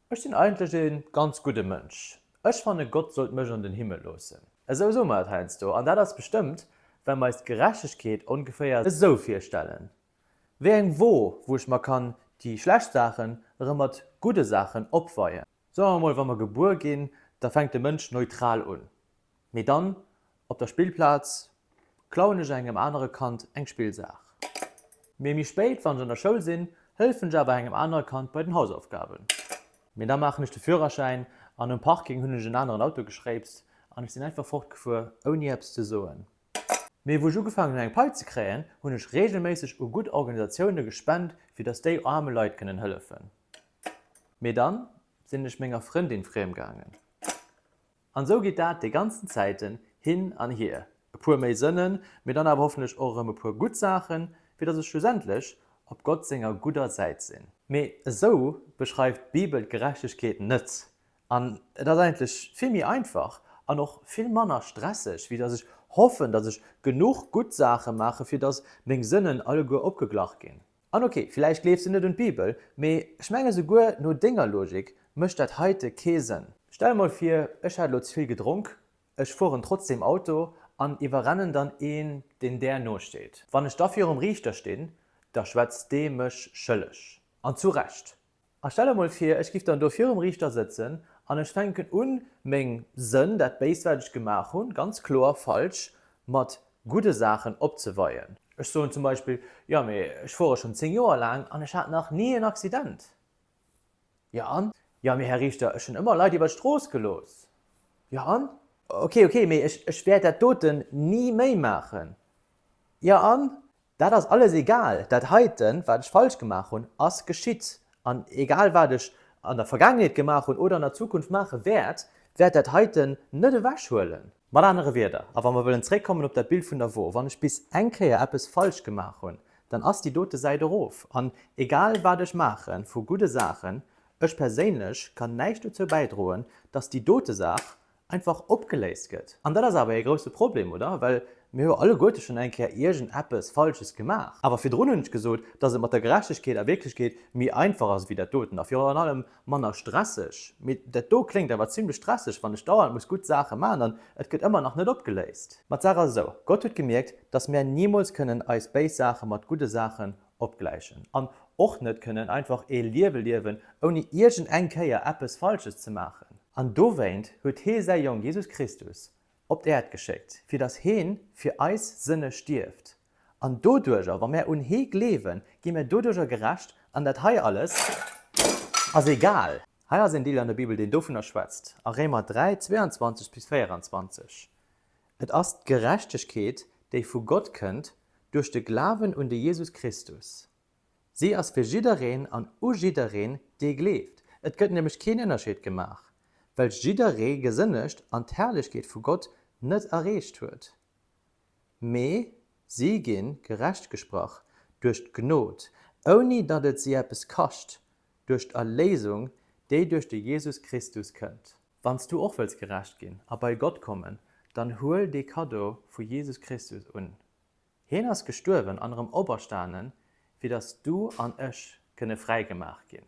Ech sinn eigentlech ee ganz gudde Mënsch. Ech fanne Gott sollt mech an den Himmel loossen. Esou soe mer et heiansdo, an dat ass bestëmmt, well mer eis d'Gerechtegkeet ongeféier esou virstellen, wéi eng Wo, wou ech mer kann déi schlecht Saachen erëm mat gudde Saachen opweien. Soe mer emol, wa mer gebuer ginn, da fänkt de Mënsch neutral un. Mee dann, op der Spillplaz, klauen ech engem anere Kand eng Spillsaach. Mee méi spéit, wann ech an der Schoul sinn, hëllefen ech awer engem anere Kand bei den Hausaufgaben. Mee da maachen ech de Führerschäin an um Parking hunn ech en aneren Auto geschréipst an ech sinn einfach fortgefuer, ouni eppes ze soen. Mee wou ech ugefaangen hunn eng Pai ze kréien, hunn ech reegelméisseg u gutt Organisatioune gespent, fir datt déi aarme Leit kënnen hëllefen. Mee dann sinn ech menger Frëndin friem gaangen. An esou geet dat déi ganzen Zäiten hin an hier, e puer méi Sënnen, mee dann awer hoffentlech och erëm e puer gutt Saachen, fir datt ech schlussendlech op Gott senger gudder Säit sinn. Mee esou beschreift d'Bibel d'Gerechtegkeet net. An et ass eigentlech vill méi einfach an och vill manner stresseg, wéi datt ech hoffen, datt ech genuch gutt Saache maachen, fir datt meng Sënnen alleguer opgeglach ginn. An ok, villäicht gleefs de net un d'Bibel, mee ech menge souguer no denger Logik mécht dat heite kee Sënn. Stell mol vir, ech hätt elo ze vill gedronk, ech fueren trotzdeem Auto an iwwerrennen dann een, deen där nosteet. Wann ech da virum Riichter stinn, da schwätzt dee mech schëlleg. An zu Recht. A stell der mol vir, ech giff dann do virum Riichter sëtzen an ech fänken un, meng Sënn, dat Béist, wat ech gemaach hunn, ganz kloer falsch mat gudde Saachen opzeweien. Ech soen zum Beispill, Jo, mee ech fuere schonn 10 Joer laang an ech hat nach ni en Accident. Jo an? Jo, mee Här Riichter, ech hunn ëmmer Leit iwwer d'Strooss gelooss. Jo an? Ok, ok, mee ech wäert dat doten ni méi maachen. Jo an? Dat ass alles egal. Dat heiten, wat ech falsch gemaach hunn, ass geschitt. An egal wat ech an der Vergaangenheet gemaach hunn oder an der Zukunft maache wäert, wäert dat heiten net ewech huelen. Mat anere Wierder, a wa mer wëllen zréckkommen op dat Bild vun dervor, wann ech bis eng Kéier eppes falsch gemaach hunn, dann ass déi dote Säit erof. An egal wat ech maache vu gudde Saachen, ech perséinlech kann näischt dozou bäidroen, dass déi dote Saach einfach opgeléist gëtt. An dat ass awer ee grousse Problem, oder? Well mir hu jo alleguerte schonn eng Kéier iergend eppes Falsches gemaach. Awer virdrun hunn ech gesot, dass et mat der Gerechtegkeet a Wierklechkeet méi einfach ass ewéi dat doten a virun allem manner stresseg. Mee dat do kléngt awer zimmlech stresseg, wann ech dauernd muss gutt Saache maachen an et gëtt ëmmer nach net opgeléist. Ma d'Saach ass esou, Gott huet gemierkt, dass mär nimools kënnen eis béis Saache mat gudde Saachen opgläichen an och net kënnen einfach ee Liewe liewen, ouni iergend eng Kéier eppes Falsches ze maachen. An dowéint huet Hie Säi Jong Jesus Christus op d'Äerd geschéckt, fir dass Heen fir eis Sënne stierft. An doduerger, wa mär un Hee gleewen, gi mär doduerger gerecht, an dat hei alles ass egal. Hei ass een Deel an der Bibel, deen dovunner schwätzt, a Réimer 3, 22 bis 24. Et ass d'Gerechtegkeet, déi vu Gott kënnt duerch de Glawen un de Jesus Christus. Si ass fir jiddereen an u jiddereen, dee gleeft. Et gëtt nämlech keen Ënnerscheed gemaach, well jidderee gesënnegt an d'Herrlechkeet vu Gott net erreecht huet. Mee si gi gerecht gesprach duerch d'Gnod, ouni datt et si eppes kascht, duerch d'Erléisung, déi duerch de Jesus Christus kënnt. Wann s du och wëlls gerecht ginn a bei Gott kommen, dann huel dee Kaddo vu Jesus Christus un. Hien ass gestuerwen an erëm operstanen, fir datt s du an ech kënne fräigemaach ginn.